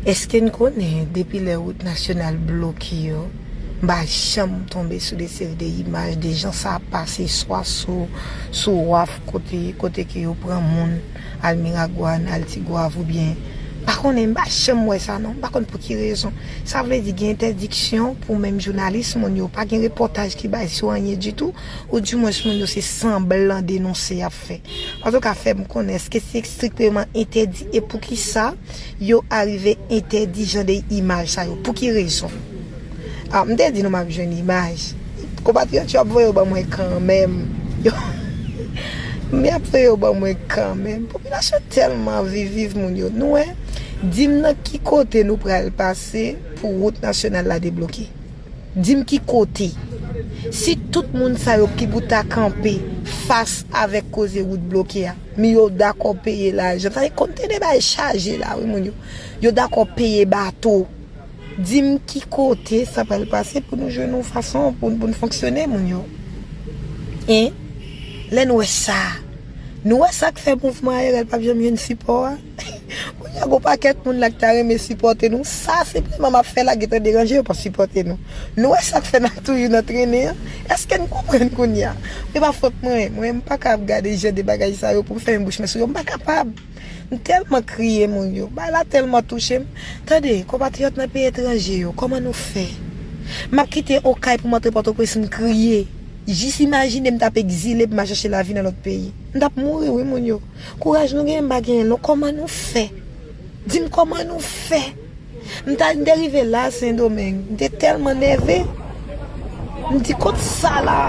Eske n konnen depi lè wout nasyonal bloke yo, m pa janm tonbe sou de seri de imaj de jan sa ap pase swa sou sou waf kote kote ke yo pran moun al Miragwàn, al Tigwav oubyen m pa konnen m pa janm wè sa non m pa konn pou ki rezon sa vle di gen entèdiksyon pou menm jounalis moun yo pa gen repòtaj ki bay sou anyen ditou ou di mwens moun yo se sanblan denonse y ap ap fè. Antouka fè m konnen eske se estrikteman entèdi e poukisa yo arive entèdi jan de imaj sa yo? Pou ki rezon? A m te di nou m ap jwenn imaj. Konpatriyòt yo ap voye yo ban mwen kanmenm. M y ap voye yo ban mwen kanmenm. Popilasyon tèlman viv viv moun yo. Nou wè? Di m nan ki kote nou pral pase pou wout nasyonal la debloke? Di m ki kote? Si tout moun sa yo ki pou ta kanpe fas avèk koze wout bloke a, mi yo dakò peye lajan, sa vle kontene ba e chaje la wi moun yo, yo dakò peye bato, di m ki kote sa pral pase pou nou jwenn yon fason pou n fonksyone moun yo? Hein? Lè n wè sa, nou wè sa k fè mouvman ARL p ap janm jwenn sipò a? Kounya gon pakèt moun la ki ta renmen sipòte nou, sa senpleman map fè la gentan deranje yo pa sipòte nou. Nou wè sak fè nap toujou nan trennen an? Eske'n konprann kounya? Se pa fòt mwen, mwen mpaka ap gade jan de bagay sa yo poum fèmen bouch mwen sou yo, mpa kapab. Mtèlman kriye moun yo, bagay la tèlman touchem. Tande, konpatriyòt nan peyi etranje yo, kòman nou fè? Map kite Okay poum antre Pòtoprens mkriye, jis imajine mtap egzile poum al chache lavi nan lòt peyi. Mtap mouri wi moun yo. Kouraj nou genyen m pa genyen l non kòman nou fè di m kòman nou fè m ta m te rive la sendomeng m te tèlman nève m di kot sa la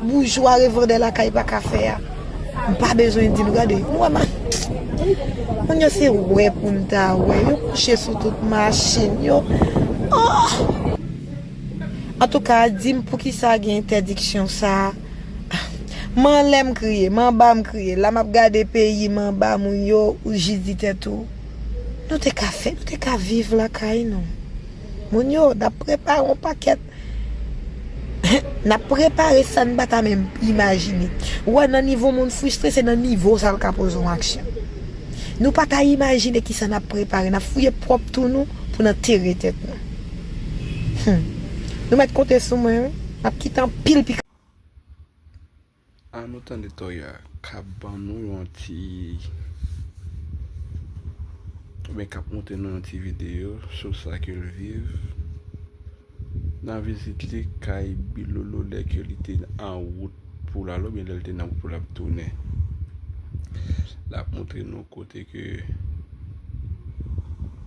boujwa revandè lakay pa ka fè a m pa bezwen di nou gade nou wè ma moun yo se wè pou n ta wè yo kouche sou tout machin yo ohh antouka di m poukisa gen entèdiksyon sa. M anlè m kriye, m anba m kriye La m ap gade peyi m anba Moun yo ou jis di tèt ou Nou te ka fè, nou te ka viv lakay nou Moun yo n ap prepare yon pakèt N ap prepare sa n pa ta menm imajine Ou wè nan nivo moun fristre se nan nivo sa l ka poze yon aksyon Nou pa ta imajine kisa n ap prepare N ap fouye pwòp twou nou pou n antere tèt nou Humm Nou mèt konte sou mwen wi Map kite anpil pi. Ah nou tande toya kap ban nou yon ti oubyen kap montre nou yon ti video sou sa ke l viv nan vizit li kay Bilolo lè ke li te an wout pou l ale oubyen lè li te nan wout pou l ap tounen lap montre nou kote ke